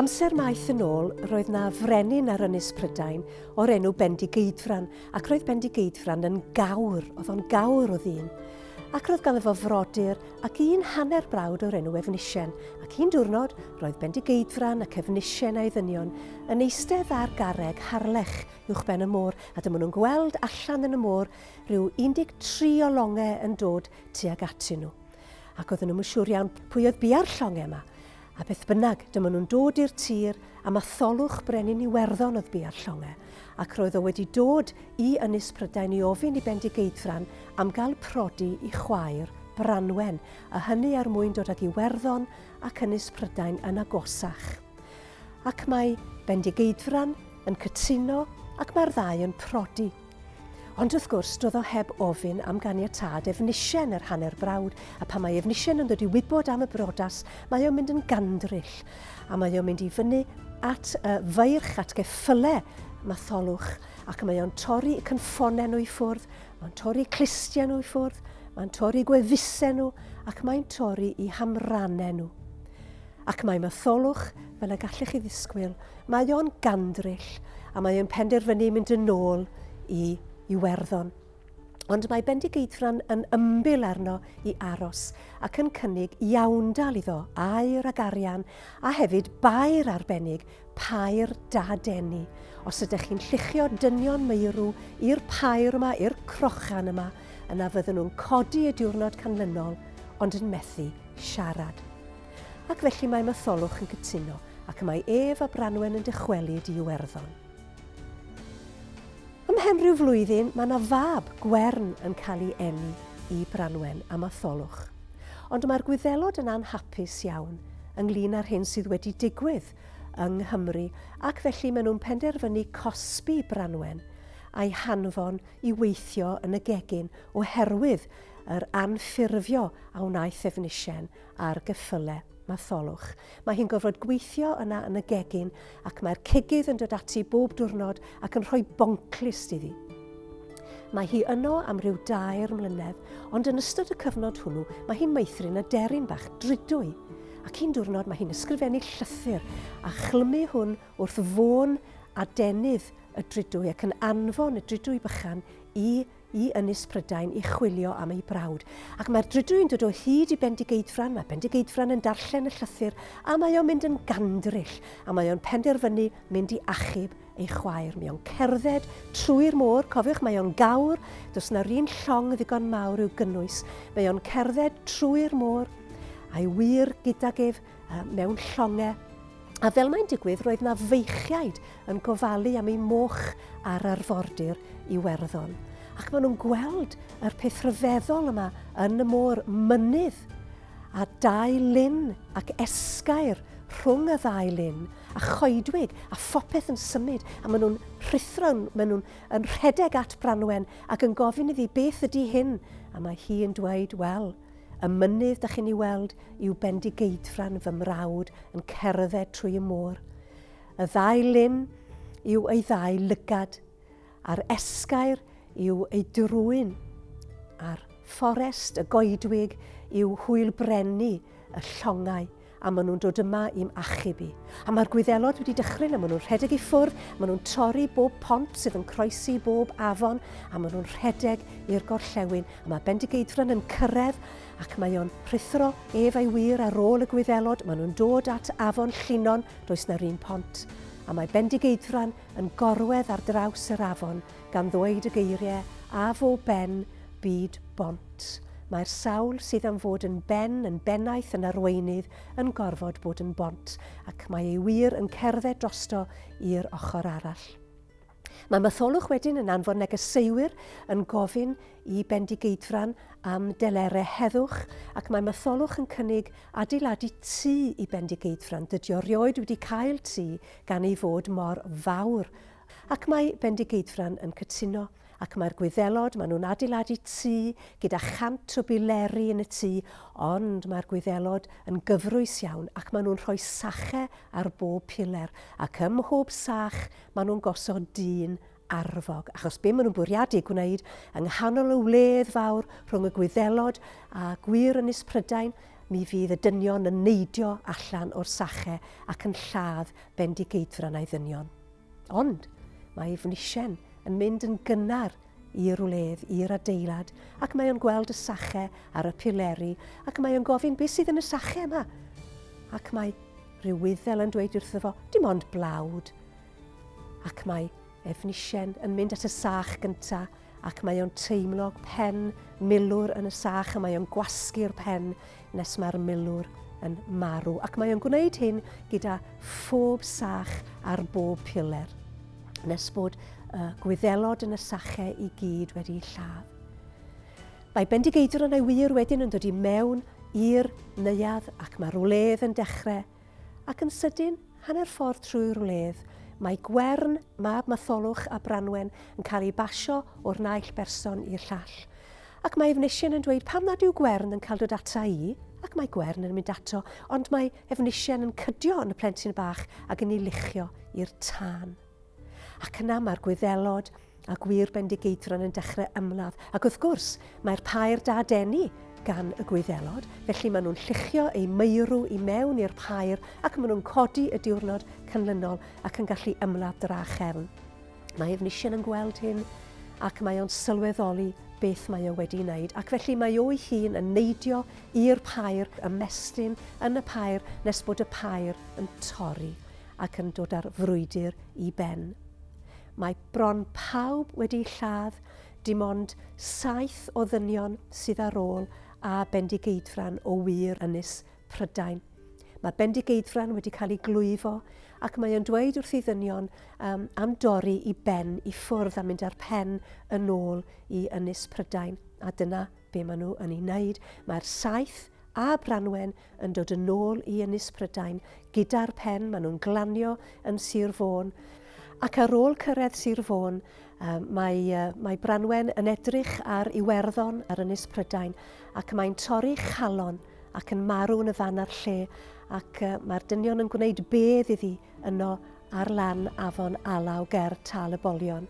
Amser maith yn ôl, roedd na frenin ar Ynys Prydain o'r enw Bendigeidfran, ac roedd Bendigeidfran yn gawr, oedd o'n gawr o ddyn. Ac roedd ganddo fo frodyr ac un hanner brawd o'r enw Efnisien, ac un diwrnod roedd Bendigeidfran ac Efnisien a'i ddynion yn eistedd ar garreg harlech uwch ben y môr, a dyma nhw'n gweld allan yn y môr rhyw 13 o longe yn dod tuag atyn nhw, ac oedden nhw'm yn siŵr iawn pwy oedd bia'r llonge yma, a beth bynnag, dyma nhw'n dod i'r tir, a Matholwch Brenin Iwerddon oedd bia'r llonge, ac roedd o wedi dod i Ynys Prydain i ofyn i Bendigeidfran am gael prodi i chwaer Branwen, a hynny er mwyn dod ag Iwerddon ac Ynys Prydain yn agosach. Ac mae Bendigeidfran yn cytuno ac mae'r ddau yn prodi. Ond wrth gwrs, doedd o heb ofyn am ganiatâd Efnisien, yr hanner brawd, a pan mae Efnisien yn dod i wybod am y brodas, mae o'n mynd yn gandryll, a mae o'n mynd i fyny at y feirch, at geffyle Matholwch, ac mae o'n torri y cynffonau nhw i ffwrdd, mae'n torri clustiau nhw i ffwrdd, mae'n torri gwefusau nhw, ac mae'n torri i hamranau nhw. Ac mae Matholwch, fel y gallech chi ddisgwyl, Mae o'n gandryll a mae o'n penderfynu mynd yn ôl i Iwerddon. Ond mae Bendigeidfran yn ymbil arno i aros ac yn cynnig iawndal iddo, air ag arian, a hefyd bair arbennig, pair da deni. Os ydych chi'n lluchio dynion meirw i'r pair yma, i'r crochan yma, yna fyddwn nhw'n codi y diwrnod canlynol, ond yn methu siarad. Ac felly mae Matholwch yn cytuno, ac y mae ef a Branwen yn dychwelyd i Iwerddon. Ymhen rhyw flwyddyn, mae yna fab, Gwern, yn cael ei eni i Branwen a Matholwch. Ond mae'r Gwyddelod yn anhapus iawn ynglyn â'r hyn sydd wedi digwydd yng Nghymru, ac felly maen nhw'n penderfynu cosbi Branwen a'i hanfon i weithio yn y gegin oherwydd yr anffurfio a wnaeth Efnisien ar geffyle Matholwch. Mae hi'n gorfod gweithio yna yn y gegin ac mae'r cigydd yn dod ati bob diwrnod ac yn rhoi bonclust iddi. Mae hi yno am ryw dair mlynedd, ond yn ystod y cyfnod hwnnw mae hi'n meithrin aderyn bach dridwy. Ac un diwrnod mae hi'n ysgrifennu llythyr a chlymu hwn wrth fôn adenydd y dridwy ac yn anfon y dridwy bychan i i Ynys Prydain i chwilio am ei brawd, ac mae'r drudw yn dod o hyd i Bendigeidfran, mae Bendigeidfran yn darllen y llythyr a mae o'n mynd yn gandryll a mae o'n penderfynu mynd i achub ei chwaer. Mae o'n cerdded trwy'r môr, cofiwch mae o'n gawr, does na run llong ddigon mawr i'w gynnwys, mae o'n cerdded trwy'r môr, a'i wir gydag ef mewn llongau. A fel mae'n digwydd, roedd na feichiaid yn gofalu am ei moch ar arfordir Iwerddon. Ac maen nhw'n gweld yr peth rhyfeddol yma yn y môr mynydd a dau lun ac esgair rhwng y ddau lun a choedwig a phopeth yn symud a maen nhw'n rhithro, maen nhw'n yn rhedeg at Branwen ac yn gofyn iddi beth ydy hyn a mae hi'n dweud, wel, Y mynydd dych chi'n ei weld yw Bendigeidfran fy mrawd yn cerdded trwy y môr. Y ddau lyn yw ei ddau lygad, a'r esgair yw ei drwyn, a'r fforest y goedwig yw hwyl brennu y llongau. a maen nhw'n dod yma i'm achub i. A mae'r gwyddelod wedi dychryn, a maen nhw'n rhedeg i ffwrdd, maen nhw'n torri bob pont sydd yn croesi bob afon, a maen nhw'n rhedeg i'r gorllewin, a mae Bendigeidfran yn cyrraedd, ac mae o'n rhuthro ef a'i wir ar ôl y gwyddelod, maen nhw'n dod at afon Llinon, does na'r un pont. A mae Bendigeidfran yn gorwedd ar draws yr afon, Gan ddweud y geirie a fo ben byd bont, mae'r sawl sydd am fod yn ben, yn bennaeth, yn arweinydd, yn gorfod bod yn bont, ac mae ei wir yn cerdded drosto i'r ochr arall. Mae Matholwch wedyn yn anfon negeseuwyr yn gofyn i Bendigeidfran am delere heddwch, ac mae Matholwch yn cynnig adeiladu tŷ i Bendigeidfran. Dydio rioed wedi cael tŷ gan ei fod mor fawr Ac mae Bendigeidfran yn cytuno, ac mae'r Gwyddelod, maen nhw'n adeiladu tŷ gyda chant o bileri yn y tŷ, ond mae'r Gwyddelod yn gyfrwys iawn ac maen nhw'n rhoi sache ar bob piler, ac ym mhob sach maen nhw'n gosod dyn arfog, achos be maen nhw'n bwriadu gwneud yng nghanol y wledd fawr rhwng y Gwyddelod a gwŷr Ynys Prydain, mi fydd y dynion yn neidio allan o'r sache ac yn lladd Bendigeidfran a'i ddynion. Ond mae Efnisien yn mynd yn gynnar i'r wledd, i'r adeilad, ac mae o'n gweld y sache ar y pileri, ac mae o'n gofyn beth sydd yn y sache yma. Ac mae rhyw wyddel yn dweud wrtho fo, dim ond blawd. Ac mae Efnisien yn mynd at y sach gyntaf, ac mae o'n teimlo pen milwr yn y sach a mae o'n gwasgu'r pen nes mae'r milwr yn marw ac mae o'n gwneud hyn gyda phob sach ar bob piler nes bod y gwyddelod yn y sachau i gyd wedi lladd. Mae Bendigeidfran a'i wir wedyn yn dod i mewn i'r neuadd ac mae'r wledd yn dechrau Ac yn sydyn, hanner ffordd trwy'r wledd, mae Gwern, mab Matholwch a Branwen, yn cael ei basio o'r naill berson i'r llall. Ac mae Efnisien yn dweud, pam nad yw Gwern yn cael dod ata i? Ac mae Gwern yn mynd ato, ond mae Efnisien yn cydio yn y plentyn bach ac yn ei luchio i'r tân. Ac yna mae'r Gwyddelod, A gwir Bendigeidfran yn dechrau ymladd. Ac wrth gwrs, mae'r pair da deni gan y Gwyddelod, felly maen nhw'n lluchio eu meirw i mewn i'r pair ac maen nhw'n codi y diwrnod canlynol ac yn gallu ymladd dra chefn. Mae Efnisien yn gweld hyn ac mae o'n sylweddoli beth mae o wedi wneud ac felly mae o'i hun yn neidio i'r pair, ymestyn yn y pair nes bod y pair yn torri ac yn dod â'r frwydr i ben. Mae bron pawb wedi lladd, dim ond saith o ddynion sydd ar ôl a Bendigeidfran o wir ynys Prydain. Mae Bendigeidfran wedi cael ei glwyfo ac mae o'n dweud wrth ei ddynion um, am dorri i ben i ffwrdd a mynd â'r pen yn ôl i ynys Prydain. A dyna be maen nhw yn ei wneud. Mae'r saith a Branwen yn dod yn ôl i Ynys Prydain gyda'r pen, maen nhw'n glanio yn Sir Fôn, ac ar ôl cyrraedd Sir Fôn, mae, mae Branwen yn edrych ar Iwerddon ar Ynys Prydain, ac mae'n torri chalon ac yn marw yn y fan a'r lle, ac mae'r dynion yn gwneud bedd iddi yno ar lan afon Alaw ger Tal y Bolion.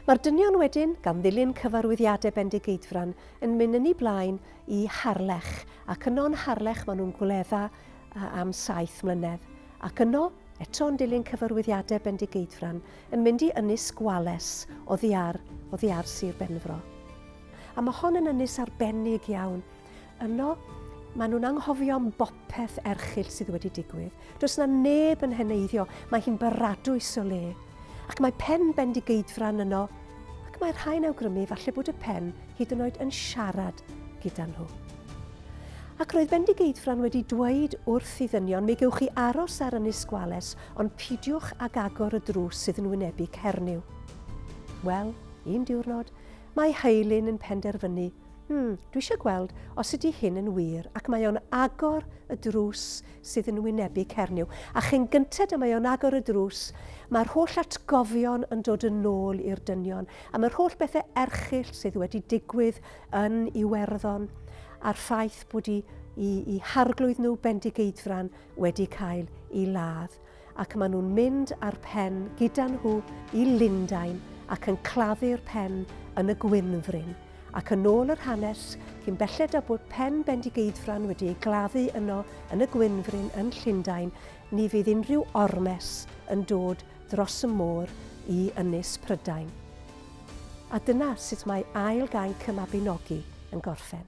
Mae'r dynion wedyn, gan ddilyn cyfarwyddiadau bendigeidfran, yn mynd yn ei blaen Y Harlech, ac yno'n Harlech maen nhw'n gwledda am saith mlynedd, ac yno, eto yn dilyn cyfarwyddiadau Bendigeidfran, yn mynd i Ynys Gwales oddi ar, oddi ar Sir Benfro. A mae hon yn ynys arbennig iawn. Yno, maen nhw'n anghofio am bopeth erchyll sydd wedi digwydd. Does 'na neb yn heneiddio, mae hi'n baradwys o le. Ac mae pen Bendigeidfran yno, ac mae rhai'n awgrymu falle bod y pen hyd yn oed yn siarad gyda nhw. Ac roedd Bendigeidfran wedi dweud wrth i ddynion, mi gewch chi aros ar Ynys Gwales, ond pidiwch ag agor y drws sydd yn wynebu Cernyw. Wel, un diwrnod, mae Heilyn yn penderfynu Hmm, dwi eisiau gweld os ydy hyn yn wir ac mae o'n agor y drws sydd yn wynebu Cernyw. A chyn gynted y mae o'n agor y drws, mae'r holl atgofion yn dod yn ôl i'r dynion a mae'r holl bethau erchill sydd wedi digwydd yn Iwerddon a'r ffaith bod i, i, i harglwydd nhw bendigeidfran wedi cael ei ladd. ac maen nhw'n mynd â'r pen gyda nhw i Lundain ac yn claddu'r pen yn y Gwynfryn, ac yn ôl yr hanes, cyn belled â bod pen Bendigeidfran wedi ei gladdu yno yn y Gwynfryn yn Llundain, ni fydd unrhyw ormes yn dod dros y môr i Ynys Prydain. A dyna sut mae ail gainc y Mabinogi yn gorffen.